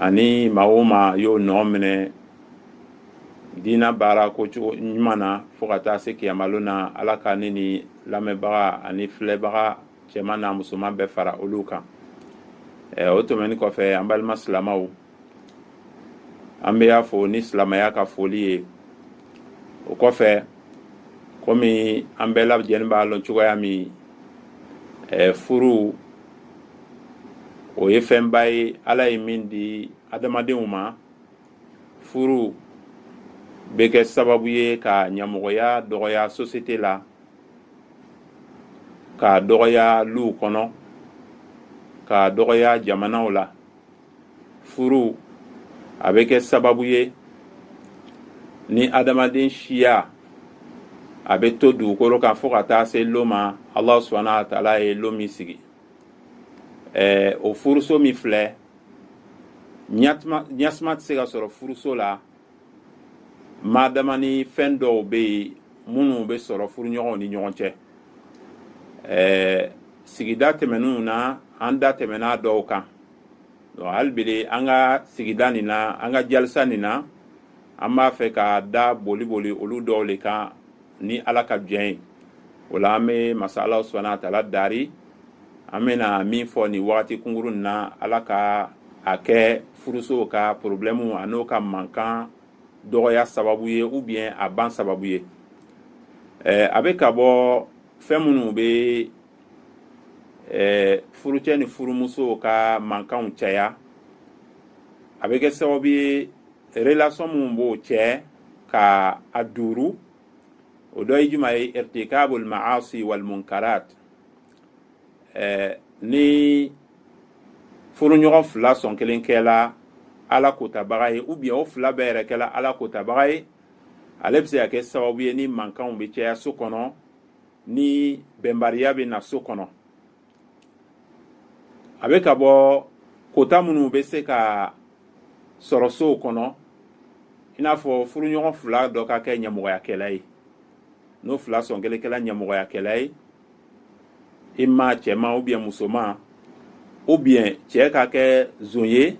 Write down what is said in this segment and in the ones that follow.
ani maa o maa y'o nɔ minɛ diina baara ko cogo ɲuman na fo ka taa se kiyamalon na ala ka ne ni lamɛnbaga ani filɛbaga cɛman n'a musoman bɛɛ fara olu kan o tɛmɛnen kɔfɛ an balima silamaw an bɛ y'a fo ni silamaya ka foli ye o kɔfɛ kɔmi an bɛɛ lajɛlen b'a lɔn cogoya min furu o ye fɛnba ye ala ye min di adamadenw ma furu bɛ kɛ sababu ye ka ɲamɔgɔya dɔgɔya sosiyete la ka dɔgɔya luw kɔnɔ ka dɔgɔya jamanaw la furu a bɛ kɛ sababu ye ni adamaden siya a bɛ to dugukolo kan fo ka taa se lon ma ala subhanahu wa taala ye lon min sigi ɛɛ o furuso min filɛ ɲasuma tɛ se ka sɔrɔ furuso la madama ni fɛn dɔw bɛ yen minnu bɛ sɔrɔ furuɲɔgɔnw ni ɲɔgɔn cɛ ɛɛ sigida tɛmɛnenw na an da tɛmɛna dɔw kan hali bi an ka sigida nin na an ka jalisa nin na an b'a fɛ ka da boli boli olu dɔw le kan ni ala ka jɛn ye o la an bɛ masa ala subhanahu wa taala dari an bɛna min fɔ nin wagati kunkurun na ala ka a kɛ furusow ka porobilɛmuw an'o ka mankan dɔgɔya sababu ye ou bien a ban sababu ye a bɛ ka bɔ fɛn minnu bɛ furucɛ ni furumuso ka mankanw caya a bɛ kɛ sababu ye relation minnu b'o cɛ ka a duuru o dɔ ye juman ye irtikabul ma'asi wal munkarat eh, ni furuɲɔgɔn fila sɔn kelen kɛla ala kotabaga ye ou bien o fila bɛɛ yɛrɛ kɛla ala kotabaga ye ale bɛ se ka kɛ sababu ye ni mankanw bɛ caya so kɔnɔ ni bɛnbaliya bɛ na so kɔnɔ a bɛ ka bɔ kota minnu bɛ se ka sɔrɔ sow kɔnɔ i n'a fɔ furuɲɔgɔn fila dɔ ka kɛ ɲamɔgɔyakɛla ye n'o fila sɔn kelen kɛla ɲamɔgɔyakɛla ye i ma cɛman ou bien musoman ou bien cɛ ka kɛ zon ye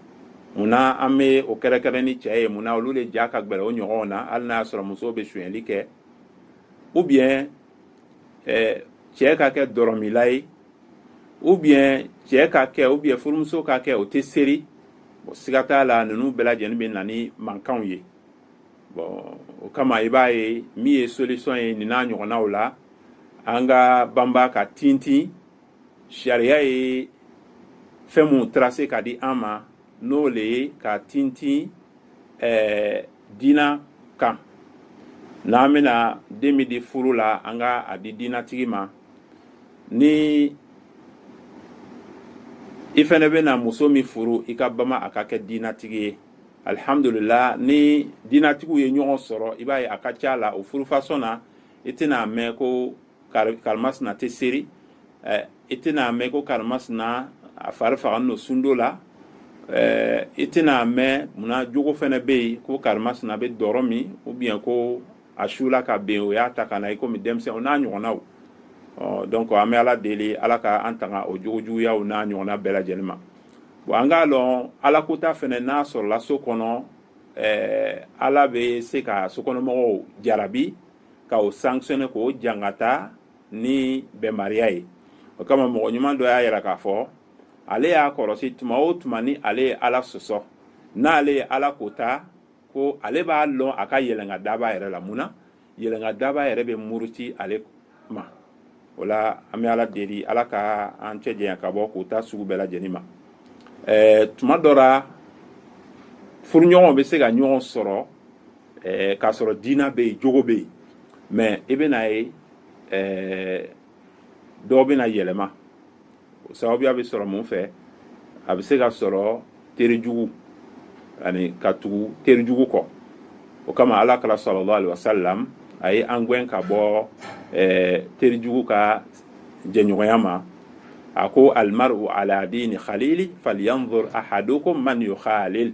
munna an bɛ o kɛrɛkɛrɛn ni cɛ ye munna olu le ja ka gbɛlɛn o ɲɔgɔnw na hali n'a y'a sɔrɔ musow bɛ sonyɛli kɛ ou bien ɛɛ cɛ ka kɛ dɔrɔmila ye ou bien cɛ ka kɛ ou bien furumuso ka kɛ o tɛ seri bon siga t'a la ninnu bɛɛ lajɛlen bɛ na ni mankanw ye bon o kama i b'a ye min ye solution ye nin n'a ɲɔgɔnnaw la an ka banba ka tintin sariya ye fɛn minnu tracer ka di an ma n'o le ye ka tintin ɛɛ diina kan n'an bɛna den min di furu la an ka a di diinatigi ma ni i fɛnɛ bɛna muso min furu i ka bama a ka kɛ diinatigi ye alihamudulila ni diinatigiw ye ɲɔgɔn sɔrɔ i b'a ye a ka ca a la o furu façon na i tɛna a mɛn ko karimasina tɛ seri i tɛna a mɛn ko karimasina a fari faganin lo sundo la i tɛna a mɛn munna jogo fɛnɛ bɛ yen ko karimasina bɛ dɔrɔ min ou bien ko a sula ka ben o y'a ta ka na i komi denmisɛn o n'a ɲɔgɔnnaw donc an bɛ ala deli ala ka an tanga o jogo juguyaw n'a ɲɔgɔnna bɛɛ lajɛlen ma bon an k'a lɔn ala kota fɛnɛ n'a sɔrɔla so kɔnɔ ala bɛ se ka sokɔnɔmɔgɔw jarabi ka o sanctionner k'o jangata ni bɛnbaliya ye o kama mɔgɔ ɲuman dɔ y'a yira k'a fɔ ale y'a kɔlɔsi tuma o tuma ni ale ye ala sɔsɔ n'ale ye ala kota ko ale b'a lɔn a ka yɛlɛnka daba yɛrɛ la mun na yɛlɛnka daba yɛrɛ bɛ muruti ale ma o la an bɛ ala deli ala ka an cɛ janya ka bɔ kota sugu bɛɛ lajɛlen ma ɛɛ tuma dɔ la furuɲɔgɔnw bɛ se ka ɲɔgɔn sɔrɔ ɛɛ k'a sɔrɔ diina bɛ yen jogo bɛ yen mais i bɛn'a ye ɛɛ dɔw bɛna yɛlɛma o sababuya bɛ sɔrɔ mun fɛ a bɛ se ka sɔrɔ teri jugu ani ka tugu teri jugu kɔ o kama ala kira sallallahu alayhi wa sallam a ye an gɛn ka bɔ ɛɛ teri jugu ka jɛɲɔgɔnya ma a ko almaru ala diini khalili falyanzur ahadukum man yukhalil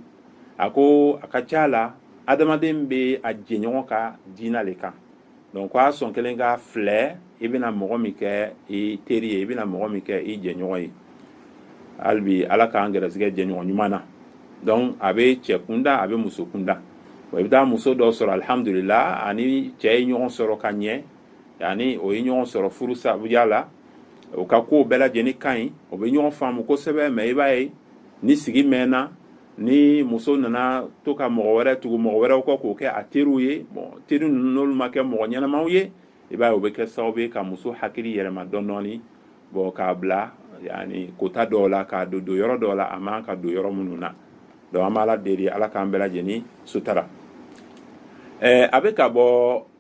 a ko a ka ca a la adamaden bɛ a jɛɲɔgɔn ka diina le kan donc a sɔn kelen ka filɛ i bɛna mɔgɔ min kɛ i teri ye i bɛna mɔgɔ min kɛ i jɛɲɔgɔn ye hali bi ala k'an gɛrɛsigɛ jɛɲɔgɔn ɲuman na donc a bɛ cɛ kunda a bɛ muso kunda i bɛ taa muso dɔ sɔrɔ alihamudulila a ni cɛ ye ɲɔgɔn sɔrɔ ka ɲɛ yani o ye ɲɔgɔn sɔrɔ furu sabuya la o ka ko bɛɛ lajɛlen ka ɲi o bɛ ɲɔgɔn faamu kosɛbɛ mais i b'a ye ni sigi mɛnna ni muso nana to ka mɔgɔ wɛrɛ tugu mɔgɔ wɛrɛw kɔ k'o kɛ a teriw ye bon teri n'olu ma kɛ mɔgɔ ɲɛnamaw ye i b'a ye o bɛ kɛ sababu ye ka muso hakili yɛlɛma dɔndɔɔni bon k'a bila yani kota dɔw la k'a don donyɔrɔ dɔw la a man kan ka don yɔrɔ minnu na donc an b'ala deli ala k'an bɛɛ lajɛlen sutara a bɛ ka bɔ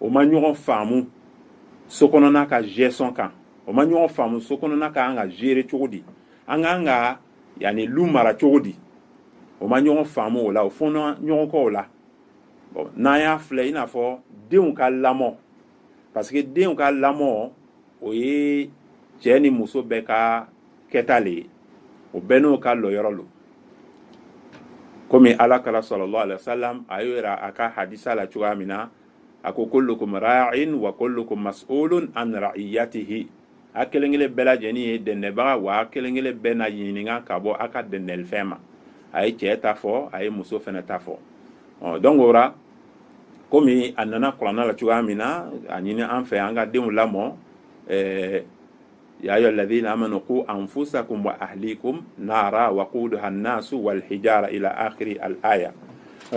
o ma ɲɔgɔn faamu so kɔnɔna ka gestion kan o ma ɲɔgɔn faamu so kɔnɔna ka an ka gérer cogo di an k'an ka yani lu mara cogo di o ma ɲɔgɔn faamu o la o fɔnna ɲɔgɔn kɔ o la bon n'an y'a filɛ i n'a fɔ denw ka lamɔ parce que denw ka lamɔ o ye cɛ ni muso bɛɛ ka kɛta le ye o bɛɛ n'o ka lɔyɔrɔ lo komi ala kira sallallahu alaihi wasalam a y'o yira a ka hadisa la cogoya min na a ko kullukum ra'in wa kullukum mas'ulun an ra'iyatihi a kelen kelen bɛɛ lajɛlen ye dɛndɛbaga wa a kelen kelen bɛɛ na ɲininka ka bɔ a ka dɛndɛlifɛn ma a ye cɛ ta fɔ a ye muso fana ta fɔ ɔ donc o la komi a nana kuranna la cogoya min na a ɲini an fɛ an ka denw lamɔ ɛɛ ya ayyuha alladhina amanu qu anfusakum wa ahlikum nara waquduha an-nasu wal hijara ila akhiri al-aya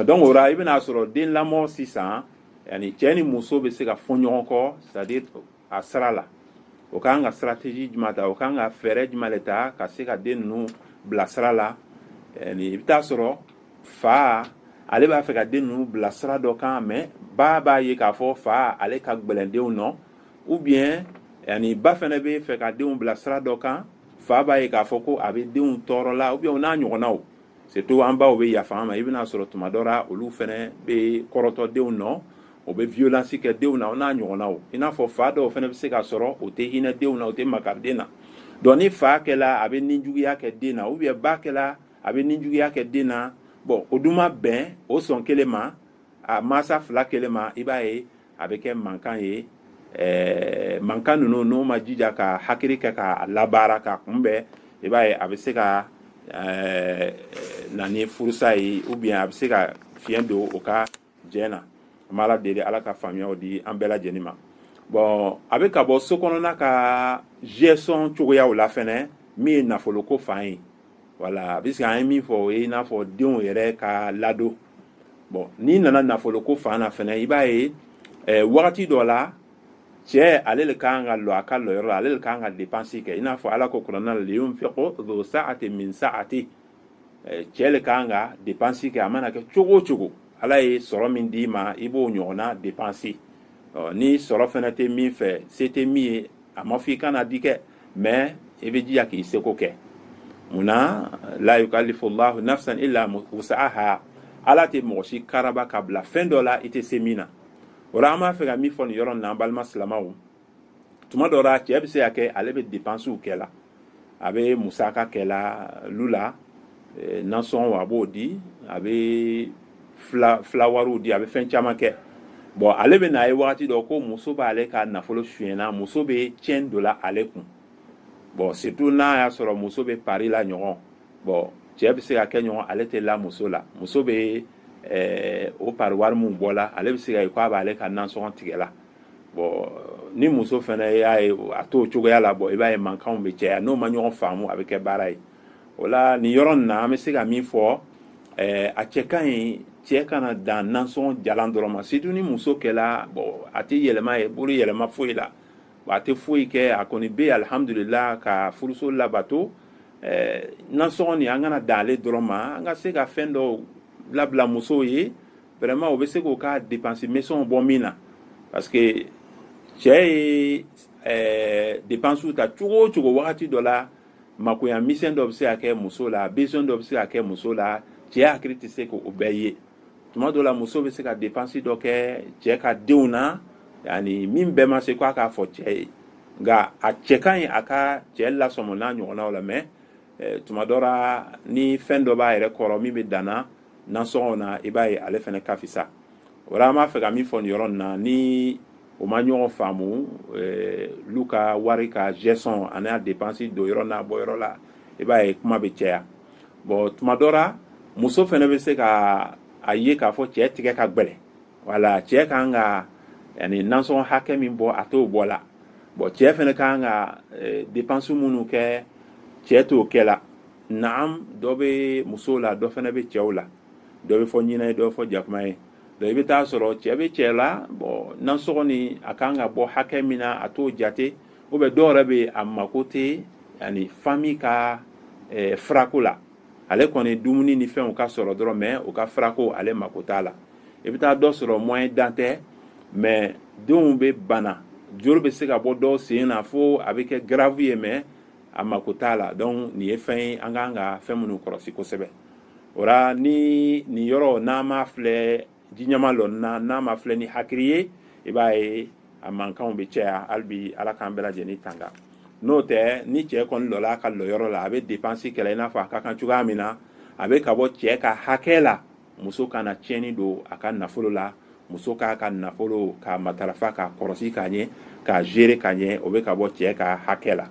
donc o la i bɛna sɔrɔ den lamɔ sisan yani cɛ ni muso bɛ se ka fɔ ɲɔgɔn kɔ c'est à dire a sira la o kan ka stratégie jumɛn ta o kan ka fɛɛrɛ jumɛn de ta ka se ka den ninnu bila sira la yani i bɛ taa sɔrɔ fa ale b'a fɛ ka den ninnu bila sira dɔ kan mais ba b'a ye k'a fɔ fa ale ka gɛlɛn denw nɔ ou bien yani ba fana bɛ fɛ ka denw bila sira dɔ kan fa b'a ye k'a fɔ ko a bɛ denw tɔɔrɔ la ou bien o n'a ɲɔgɔnnaw surtout an baw bɛ yafa an ma i bɛna sɔrɔ tuma dɔ la olu fana bɛ kɔrɔtɔ denw nɔ o bɛ violence kɛ denw na o n'a ɲɔgɔnnaw i n'a fɔ fa dɔw fana bɛ se ka sɔrɔ o tɛ hinɛ denw na o tɛ makari den na donc ni fa kɛla a bɛ ninjuguya kɛ den na ou bien ba kɛla a bɛ ninjuguya kɛ den na bon o dun ma bɛn o sɔn kelen ma a mansa fila kelen ma i b'a ye a bɛ kɛ mankan ye mankan ninnu n'o ma jija ka hakili kɛ k'a labaara k'a kunbɛn i b'a ye a bɛ se ka na ni furusa ye ou bien a bɛ se ka fiɲɛ don o ka jɛ na an b'ala deli ala ka faamuyaw di an bɛɛ lajɛlen ma bon a bɛ ka bɔ so kɔnɔna ka gestion cogoyaw la fana min ye nafolo ko fan ye voilà puisque an ye min fɔ o ye i n'a fɔ denw yɛrɛ ka ladon bon n'i nana nafolo ko fan na fana i b'a ye eh, wagati dɔ la cɛ ale le kan ka lɔ a ka lɔyɔrɔ la ale le kan ka depansi kɛ i n'a fɔ ala ko kuranna la liyunfiqu dhu saatin min saati eh, cɛ le kan ka depansi kɛ a mana kɛ cogo o cogo ala ye sɔrɔ min d'i ma i b'o ɲɔgɔnna depansi ni sɔrɔ fana tɛ min fɛ se tɛ min ye a ma fɔ i kana di kɛ mais i bɛ jija k'i seko kɛ mun na la yukallifu llahu nafsan illa wus'aha ala tɛ mɔgɔ si karaba ka bila fɛn dɔ la i tɛ se min na o la an b'a fɛ ka min fɔ nin yɔrɔ in na an balima silamaw tuma dɔ la cɛ bɛ se ka kɛ ale bɛ depansiw kɛ la a bɛ musaka kɛ la lu la nasɔngɔw a b'o di a bɛ fura wariw di a bɛ fɛn caman kɛ bon ale bɛ n'a ye waati dɔ ko muso b'ale ka nafolo suɲɛna muso bɛ cɛn don la ale kun bon surtout n'a y'a sɔrɔ muso bɛ pari la ɲɔgɔn bon cɛ bɛ se ka kɛ ɲɔgɔn ale tɛ la muso la muso bɛ o pari wari min bɔ la ale bɛ se ka k'a b'ale ka nansɔngɔ tigɛ la bon ni muso fana y'a ye a t'o cogoya la bon i b'a ye mankanw bɛ caya n'o ma ɲɔgɔn faamu a bɛ kɛ baara ye o la nin yɔrɔ nin na an bɛ se ka min fɔ a cɛ ka ɲi cɛ kana dan nansɔngɔ jalan dɔrɔn ma surtout ni muso kɛla bon a tɛ yɛlɛma ye bolo yɛlɛma foyi la a tɛ foyi kɛ a kɔni bɛ alihamdulila ka furuso labato nansɔngɔ nin an kana dan ale dɔrɔn ma an ka se ka fɛn dɔw labila musow ye vraiment o bɛ se k'o ka depansi misɛnw bɔ min na parce que cɛ ye depansiw ta cogo o cogo wagati dɔ la makoya misɛn dɔ bɛ se ka kɛ muso la besoin dɔ bɛ se ka kɛ muso la cɛ hakili tɛ se k'o bɛɛ ye tuma dɔ la muso bɛ se ka dépense dɔ kɛ cɛ ka denw na yani min bɛɛ ma se k'a k'a fɔ cɛ ye nka a cɛ ka ɲi a ka cɛ lasɔmɔ n'a ɲɔgɔnnaw la mais eh, tuma dɔ la ni fɛn dɔ b'a yɛrɛ kɔrɔ min bɛ danna nasɔngɔw na i b'a ye ale fana ka fisa o la an b'a fɛ ka min fɔ nin yɔrɔ nin na ni o ma ɲɔgɔn faamu eh, lu ka wari ka gestion ani a dépense don yɔrɔ n'a bɔ yɔrɔ la i b'a ye kuma bɛ caya bon tuma dɔ la muso fana bɛ se ka a ye k'a fɔ cɛ tigɛ ka gbɛlɛ wala cɛ kan ka yani nansɔngɔ hakɛ min bɔ a t'o bɔ la bon cɛ fana kan ka eh, dépense minnu kɛ cɛ t'o kɛ la naam dɔ bɛ musow la dɔ fana bɛ cɛw la dɔ bɛ fɔ ɲinɛ ye dɔ bɛ fɔ jakuma ye donc i bɛ t'a sɔrɔ cɛ bɛ cɛ la bon nasɔngɔ ni a kan ka bɔ hakɛ min na a t'o jate ou bien dɔw yɛrɛ bɛ a mako tɛ yani famille ka furako la ale kɔni dumuni ni fɛnw ka sɔrɔ dɔrɔn mais u ka furako ale mako t'a la i bɛ taa dɔ sɔrɔ moyen dan tɛ mais denw bɛ bana joli bɛ se ka bɔ dɔw sen na fo a bɛ kɛ grave ye mais a mako t'a la donc nin ye fɛn ye an kan ka fɛn minnu kɔlɔsi kosɛbɛ o la ni nin yɔrɔ n'a ma filɛ jiɲɛma lɔnni na n'a ma filɛ ni hakili ye i b'a ye a mankanw bɛ caya hali bi ala k'an bɛɛ lajɛlen tanga n'o tɛ ni cɛ kɔni lɔla a ka lɔyɔrɔ la a bɛ depansi kɛla i n'a fɔ a ka kan cogoya min na a bɛ ka bɔ cɛ ka hakɛ la muso kana tiɲɛni don a ka nafolo la muso k'a ka nafolo k'a matarafa k'a kɔlɔsi ka ɲɛ k'a gérer ka ɲɛ o bɛ ka bɔ cɛ ka hakɛ la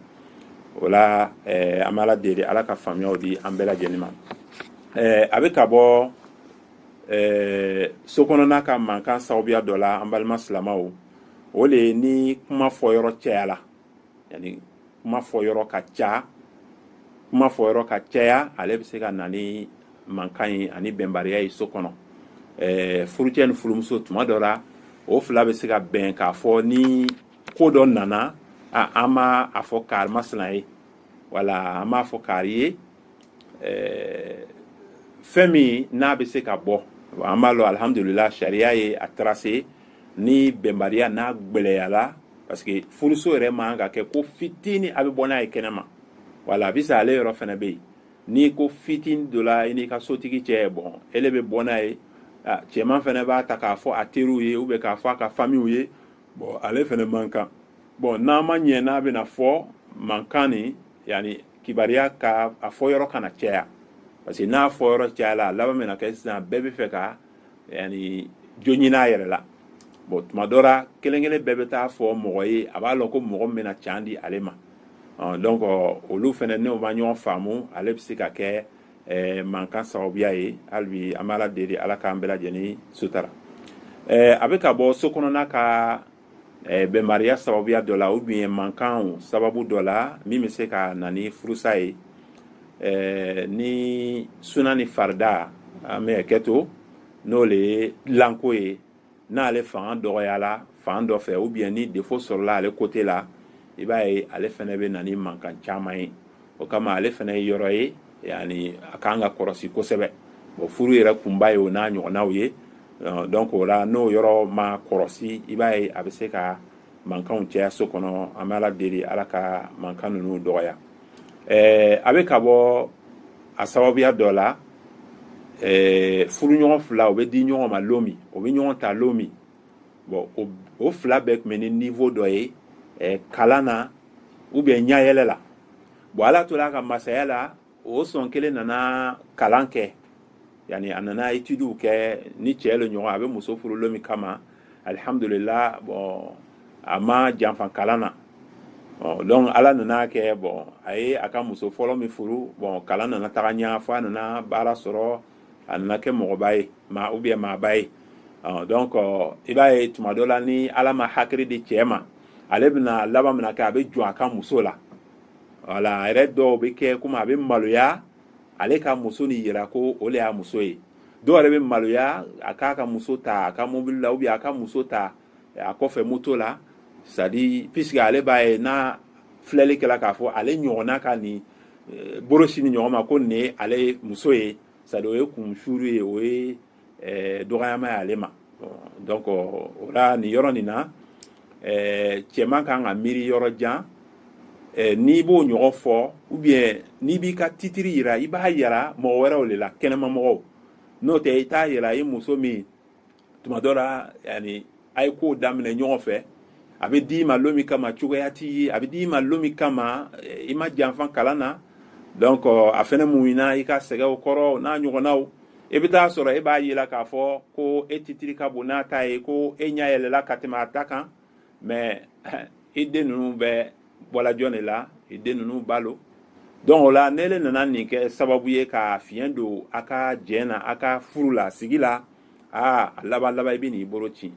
o la eh, an bɛ ala deli ala ka faamuyaw di an bɛɛ lajɛlen ma eh, a bɛ ka bɔ eh, so kɔnɔna ka mankan sababuya dɔ la an balima silamaw o le ye ni kuma fɔ yɔrɔ cɛya la yani kuma fɔ yɔrɔ ka ca kuma fɔ yɔrɔ ka caya ale bɛ se ka na ni mankan ye ani bɛnbaliya ye so kɔnɔ ɛɛ furucɛ ni furumuso tuma dɔ la o fila bɛ se ka bɛn k'a fɔ ni ko dɔ nana a an ma a fɔ kari masina ye wala an m'a fɔ kari ye ɛɛ fɛn min n'a bɛ se ka bɔ an b'a lɔ alihamudulila sariya ye a tracé ni bɛnbaliya n'a gwɛlɛyala parce que furuso yɛrɛ man ka kɛ ko fitini a bɛ bɔ n'a ye kɛnɛma wala a bɛ sa ale yɔrɔ fana bɛ yen ni ko fitini donna i n'i ka sotigi cɛ bɔn ele bɛ bɔ n'a ye cɛman fana b'a ta k'a fɔ a teriw ye ou bien k'a fɔ a ka famiw ye bɔn ale fana man kan bɔn n'a ma ɲɛ n'a bɛna fɔ mankan ni yani kibariya ka a fɔ yɔrɔ kana caya parce que n'a fɔ yɔrɔ cayala a laban bɛna kɛ sisan bɛɛ bɛ fɛ ka yani jo ɲini a yɛrɛ la bon tuma dɔ la kelen kelen bɛɛ bɛ taa fɔ mɔgɔ ye a b'a lɔn ko mɔgɔ min bɛna can di ale ma donc olu fana n'o ma ɲɔgɔn faamu ale bɛ se ka kɛ mankan sababuya ye hali bi an bɛ ala deli ala k'an bɛɛ lajɛlen sutara a bɛ ka bɔ so kɔnɔna ka bɛnbaliya sababuya dɔ la ou bien mankan sababu dɔ la min bɛ se ka na ni furusa ye ni suna ni farida an bɛ kɛ to n'o le ye dilanko ye n'ale fanga dɔgɔyala fan dɔ fɛ ou bien ni défaut sɔrɔla ale côté la i b'a ye ale fana bɛ na ni mankan caman ye o kama ale fana ye yɔrɔ ye yani a kan ka kɔrɔsi kosɛbɛ bon furu yɛrɛ kunba ye o n'a ɲɔgɔnnaw ye euh, donc o la n'o yɔrɔ ma kɔrɔsi i b'a ye a bɛ se ka mankanw caya so kɔnɔ an bɛ ala deli ala ka mankan ninnu dɔgɔya ɛɛ a bɛ ka bɔ a sababuya dɔ la ɛɛ furuɲɔgɔn fila o bɛ di ɲɔgɔn ma lon min o bɛ ɲɔgɔn ta lon min bɔn o fila bɛɛ tun bɛ ni niveau dɔ ye eh, kalan na ou bien ɲayɛlɛ la bɔn ala tora a ka masaya la o sɔn kelen nana kalan kɛ yani a nana etidiw kɛ ni cɛɛ lo ɲɔgɔn a bɛ muso furu lon min kama alihamdulila bɔn a ma janfa kalan na donc ala nana kɛ bɔn a ye a ka muso fɔlɔ min furu bɔn kalan nana taga ɲa fo a nana baara sɔrɔ a nana kɛ mɔgɔba ye maa ou bien maaba ye donc i b'a ye tuma dɔ la ni ala ma hakili di cɛ ma ale bɛna laban min na kɛ a bɛ jɔn a ka muso la wala a yɛrɛ dɔw bɛ kɛ komi a bɛ maloya ale ka muso ni yira ko o de y'a muso ye dɔw yɛrɛ bɛ maloya a k'a ka muso ta a ka mobili la ou bien a ka muso ta a kɔfɛ moto la c'est-à-dire puisque ale b'a ye n'a filɛli kɛla k'a fɔ ale ɲɔgɔnna ka nin eh, bolo sin nin ɲɔgɔn ma ko nin ye ale muso ye c'est-à-dire o ye kunsuru ye o ye eh, dɔgɔyama ye ale ma donc o la nin yɔrɔ nin na eh, cɛman kan ka miiri yɔrɔ jan n'i b'o ɲɔgɔn fɔ ou bien n'i b'i ka titiri yira i b'a yira mɔgɔ wɛrɛw de la kɛnɛmamɔgɔw n'o tɛ i t'a yira i muso min tuma dɔ la yani a ye kow daminɛ ɲɔgɔn fɛ a bɛ d'i ma lon min kama cogoya t'i ye a bɛ d'i ma lon min kama i ma janfa kalan na donc a fɛnɛ muɲuna i ka sɛgɛw kɔrɔ n'a ɲɔgɔnnaw i bɛ t'a sɔrɔ e b'a yela k'a fɔ ko e titiri ka bon n'a ta ye ko e ɲɛ yɛlɛla ka tɛmɛ a ta kan mais i den ninnu bɛɛ bɔla jɔn de la i den ninnu ba lo donc o la n'ele nana nin kɛ sababu ye ka fiɲɛ don a ka jɛn na a ka furu la sigi la aa a laban laban i bɛ n'i bolo cin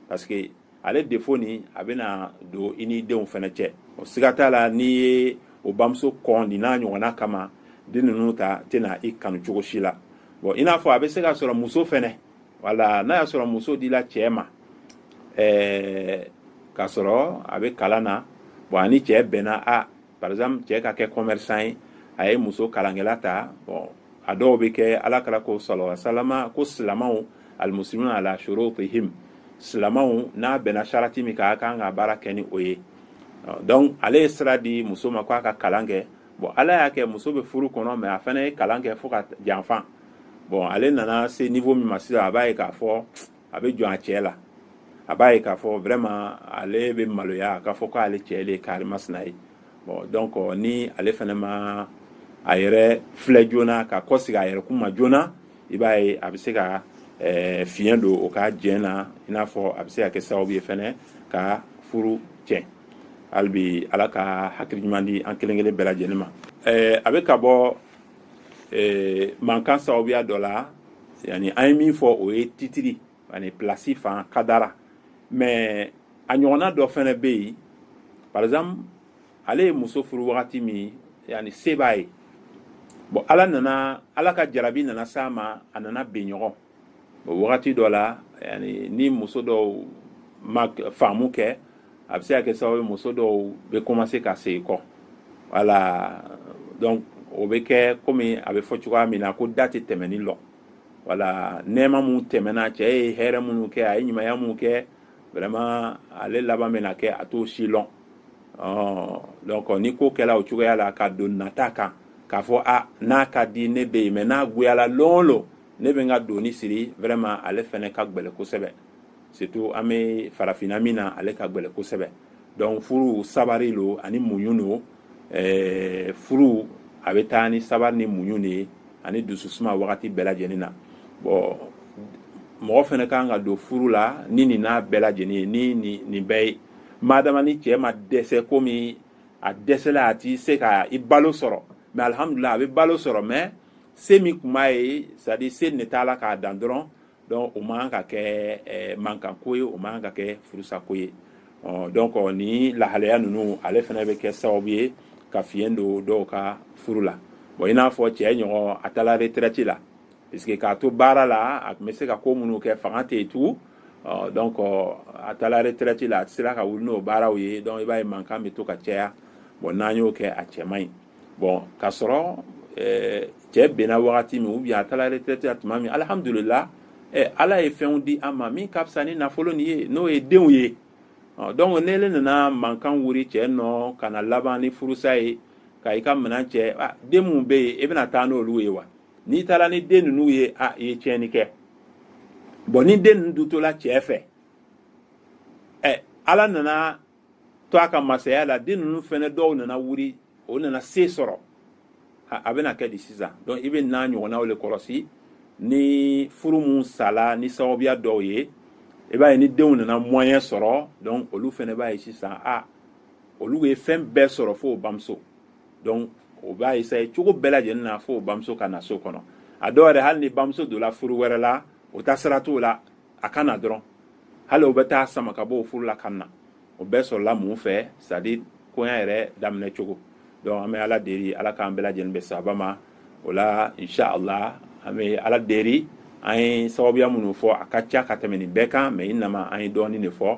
parce que ale défaut nin a bɛna don i ni denw fɛnɛ cɛ o siga t'a la n'i ye o bamuso kɔn nin n'a ɲɔgɔnna kama den ninnu ta tɛna i kanu cogo si la bon i n'a fɔ a bɛ se ka sɔrɔ muso fɛnɛ wala n'a y'a sɔrɔ muso dila cɛ ma ɛɛ k'a sɔrɔ a bɛ kalan na bon a ni cɛ bɛnna a par exemple cɛ ka kɛ commerçant ye a ye muso kalankɛla ta bon a dɔw bɛ kɛ ala kira ko sallallahu alaihi wasallam ko silamaw almuslimuna ala shurutihim silamaw n'a bɛnna sarati min kan a kan ka baara kɛ ni o ye donc ale ye sira di muso ma ko a ka kalan kɛ bon ala y'a kɛ muso bɛ furu kɔnɔ mais a fana ye kalan kɛ fo ka janfa bon ale nana se niveau min ma sisan a b'a ye k'a fɔ a bɛ jɔn a cɛ la a b'a ye k'a fɔ vraiment ale bɛ maloya a k'a fɔ ko ale cɛ le karimasina ye bon donc ni ale fana ma a yɛrɛ filɛ joona ka kɔsegi a yɛrɛ kun ma joona i b'a ye a bɛ se ka eh, fiɲɛ don o ka jɛn na i n'a fɔ a bɛ se ka kɛ sababu ye fɛnɛ ka furu tiɲɛ hali bi ala ka hakili ɲuman di an kelen kelen bɛɛ lajɛlen ma eh, a bɛ ka bɔ eh, mankan sababuya dɔ la yani an ye min fɔ o ye titiri ani pilasi fan kadara mais a ɲɔgɔnna dɔ fɛnɛ bɛ yen par exemple ale ye muso furu wagati min yani se b'a ye bon ala nana ala ka jarabi nana s'a ma a nana ben ɲɔgɔn o wagati dɔ la yani ni muso dɔw ma faamu kɛ a bɛ se ka kɛ sababu ye muso dɔw bɛ commencer ka segin kɔ voilà donc o bɛ kɛ komi a bɛ fɔ cogoya min na ko da tɛ tɛmɛnin lɔn voilà nɛɛma minnu tɛmɛna cɛ ye hɛrɛ minnu kɛ a ye ɲumanya minnu kɛ vraiment ale laban bɛna kɛ a t'o si lɔn ɔɔ donc ni ko kɛla o cogoya la ka don nata kan k'a fɔ a n'a ka di ne bɛ yen mais n'a goyala lon o lon ne bɛ n ka doni siri vraiment ale fɛnɛ ka gbɛlɛ kosɛbɛ surtout an bɛ farafinna min na ale ka gbɛlɛ kosɛbɛ donc furu sabari lo ani muɲu lo eh, furu a bɛ taa ni sabari ni muɲu de ye ani dususuma wagati bɛɛ lajɛlen na bon mɔgɔ fɛnɛ kan ka don furu la ni nin n'a bɛɛ lajɛlen ye ni nin bɛɛ ye madama ni cɛɛ ma dɛsɛ komi a dɛsɛla a ti se ka i balo sɔrɔ mais alhamdulila a bɛ balo sɔrɔ mais se min kun b'a ye c'est à dire se ne t'a la k'a dan dɔrɔn donc o man ka kɛ eh, mankanko ye o man ka kɛ furusako ye ɔ donc ni lahalaya ninnu ale fɛnɛ bɛ kɛ sababu ye ka fiɲɛ don dɔw ka furu la bon i n'a fɔ cɛ ɲɔgɔn a taara retraite la parce que k'a to baara la a tun bɛ se ka ko minnu kɛ fanga tɛ yen tugun ɔ donc a taara retraite la a tɛ sera ka wuri n'o baaraw ye donc i b'a ye mankan bɛ to ka caya bon n'an y'o kɛ a cɛ man ɲi bon k'a sɔrɔ cɛ benna wagati min ou bien a taara retraite la tuma min alihamdulila ala ye fɛnw di a ma min ka fisa ni nafolo nin ye n'o ye denw ye donc n'ele nana mankan wuri cɛ nɔ ka na laban ni furusa ye ka i ka minɛn cɛ den minnu bɛ yen e bɛna taa n'olu ye wa n'i taara ni den ninnu ye a i ye tiɲɛni kɛ bon ni den ninnu dun tola cɛ fɛ ɛ ala nana to a ka masaya la den ninnu fɛnɛ dɔw nana wuri o nana se sɔrɔ a bɛna kɛ di sisan donc i bɛ n'a ɲɔgɔnnaw le kɔlɔsi ni furu mun sala ni sababuya dɔw ye i b'a ye ni denw nana moyen sɔrɔ donc olu fɛnɛ b'a ye sisan a olu ye fɛn bɛɛ sɔrɔ fo bamuso donc o b'a essayer cogo bɛɛ lajɛlen na fo bamuso ka na so kɔnɔ a dɔw yɛrɛ hali ni bamuso donna furu wɛrɛ la o ta sira t'o la a ka na dɔrɔn hali o bɛ taa sama ka bɔ o furu la ka na o bɛɛ sɔrɔla mun fɛ c'est à dire koɲa yɛrɛ daminɛ cogo donc an bɛ ala deli ala k'an bɛɛ lajɛlen bɛn saaba ma o la inshallah an bɛ ala deli an ye sababuya minnu fɔ a ka ca ka tɛmɛ nin bɛɛ kan mais innama an ye dɔɔnin le fɔ